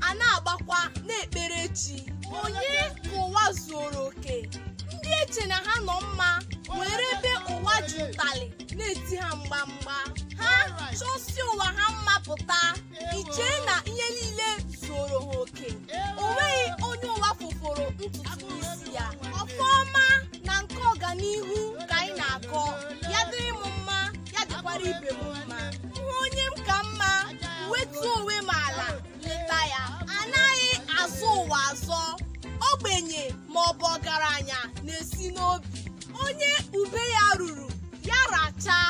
a na-agbakwa na-ekpere chi onye ka ụwa zuoro oke ndị i che na ha nọ mma nwere ebe ụwa ji ụtalị na-eti ha mgbamgba ha chọsi ụwa ha mma pụta i chee na ihe niile zuoro ha oke o nweghị onye ụwa fụfụrụ ntutu isi ya ọfụma na nke ọganihu ka anyị na-akọ ya dịrị m mma ya dịkwara ibe m mma hụ onye m ka mma wetuo onwe m ala leta ya a naghị azọ ụwa azọ ogbenye ma ọ bụ ọgaranya na-esi n'obi onye ube ya ruru ya rachaa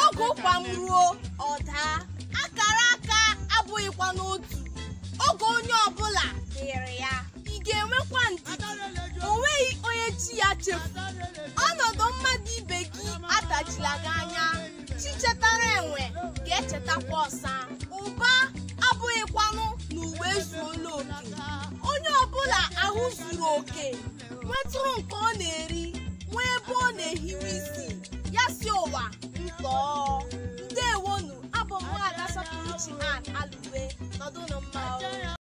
oge ụkwa m ruo ọ daa akara aka abụghịkwa n'otu oge onye ọbụla dịrị ya ị ga-enwekwa ndidi o nweghị onye chi ya chefu ọnọdụ mmadụ ibe gị adachila gị anya chi chetara enwe ga-echetakwa ọsa ụba abụghịkwanụ na ụwa ezuola oke onye ọbụla ahụ zuru oke nwetụrụ nke ọ na-eri nwee ebe ọ na-ehiwe isi ya sị ụwa ntọọ ndewonụ abụ m nwaada sọpụrụchi analụwe nọdụnụ mma o.